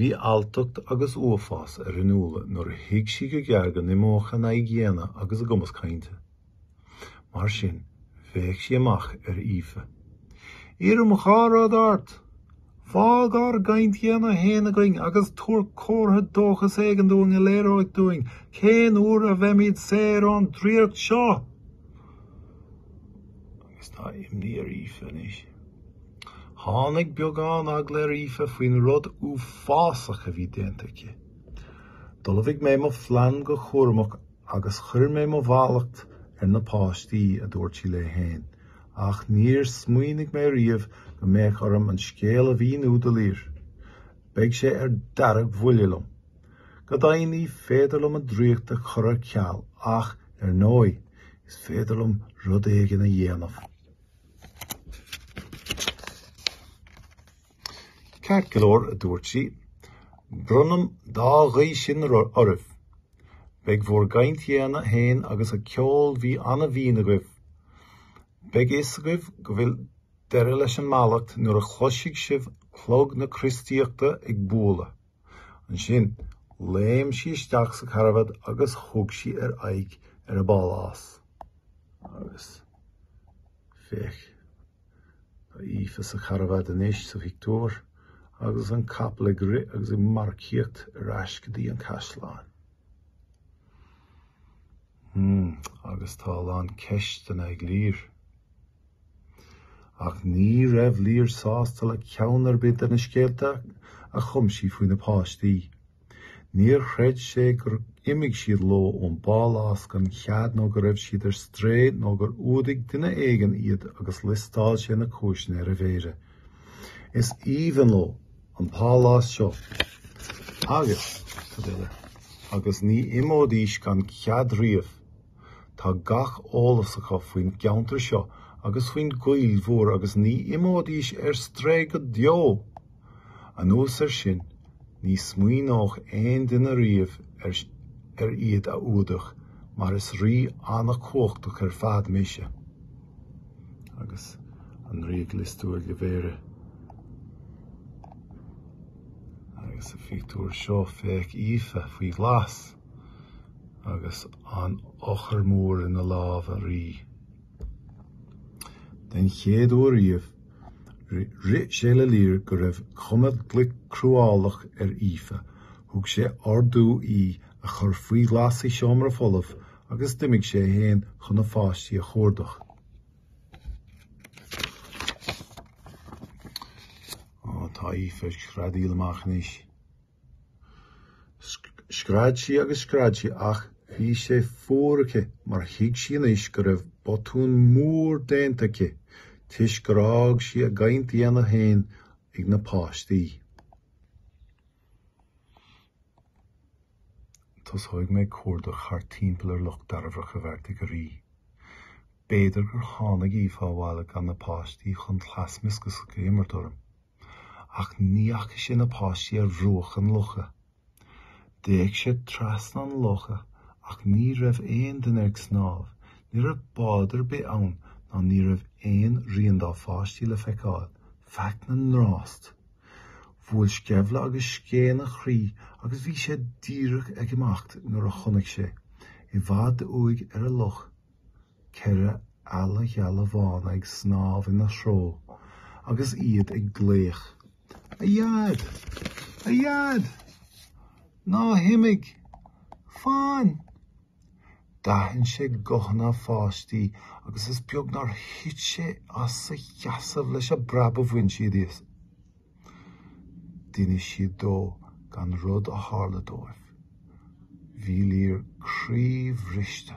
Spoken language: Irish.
Bhí alltacht agus uafás ar Fhionnuala nuair a thuig sí go gearr go n-imeodh a n-aghaidheanna daonna agus a gcumas cainte. Mar sin, bhéic sí amach ar Aoife, Iarraim dhá rud ort! Fág ár gcaint dhaonna féin againn agus tabhair comhartha dóchais éigin dúinn a léireoidh dúinn cén uair a bheimid saor ón draíocht seo! Agus tá imní ar Aoife anois. Tháinig beagán eagla ar Aoife faoin rud uafásach a bhí déanta aici. D'ullmhaigh mé mo phlean go cúramach agus chuir mé mo mhallacht ar na páistí, a dúirt sí léi féin, ach níor smaoinigh mé riamh go mbeadh orm an scéal a mhíniú do Lir. Beidh sé ar deargbhuile liom. Go deimhin ní féidir liom an draíocht a chur ar ceal ach, ar ndóigh, is féidir liom rud éigin a dhéanamh. Ceart go leor, a dúirt sí, bronnam dá ghuí sin oraibh. Beidh bhur gcaint dhaonna féin agus an ceol sí an-bhinn agaibh. Beidh a fhios agaibh go bhfuil deireadh leis an mallacht nuair a chloisfidh sibh clog na Críostaíochta ag bualadh. Ansin, léim sí isteach sa charbad agus thug sí ar aghaidh ar a bpálás. Agus, féach, tá Aoife sa charbad anois sa phictiúr agus an capall ag rith agus ag marcaíocht ar ais go dtí an caisleán. Hmm, agus tá a lán ceisteanna ag Lir. Ach ní raibh Lir sásta le ceann ar bith de na scéalta a chum sí faoi na páistí. Níor chreid sé gur imigh siad leo ón bpálás gan chead nó go raibh siad ar strae nó gur fhuadaigh duine éigin iad agus liostáil sé na cúiseanna ar a mhéara. Is aoibhinn leo an pálás seo agus cad eile? agus ní imeoidís gan chead riamh. Tá gach eolas acu faoin gceantar seo agus faoin gcoill mhór agus ní imeoidís ar strae go deo! Anuas air sin, ní smaoineodh aon duine riamh ar iad a fhuadach mar is rí an-chumhachtach ar fad mise. Agus an rí ag liostú ar a mhéara. Agus sa phictiúr seo, féach Aoife faoi ghlas. agus an eochair mór ina lámh an Rí. Den chéad uair riamh, rith sé le Lir go raibh cuma glic cruálach ar Aoife. Thug sé ordú í a chur faoi ghlas i seomra folamh agus d'imigh sé fhéin chun a pháistí a chuardach. Tá Aoife ag screadaíl amach anois. Scread sí agus scread sí ach bhí sé fuar aici mar thuig sí anois go raibh botún mór déanta aici toisc gur fhág sí a gcaint dhaonna féin ag na páistí. Tosóidh mé ag cuardach thart timpeall ar Loch Dairbhreach, a bheartaigh an Rí. B'fhéidir gur tháinig Aoife abhaile gan na páistí chun cleas mioscaise a imirt orm. Ach ní fhaca sé na páistí ar bhruach an locha. D'fhéach sé trasna an locha ach ní raibh aon duine ag snámh, ní raibh bád ar bith ann ná ní raibh aon rian dá pháistí le feiceáil, faic na ngrás. Bhuail sceimhle agus scéin a chroí agus bhí sé díreach ag imeacht nuair a chonaic sé, i bhfad uaidh ar an loch, Ceithre eala gheala bhána ag snámh ina threo agus iad ag glaoch, A Dhaid! A Dhaid! Ná himigh! Fan! D'aithin sé guthanna a pháistí agus is beag nár thit sé as a sheasamh leis an bpreab a bhain siad as. D'inis siad dó gach rud a tharla dóibh. Bhí Lir croíbhriste.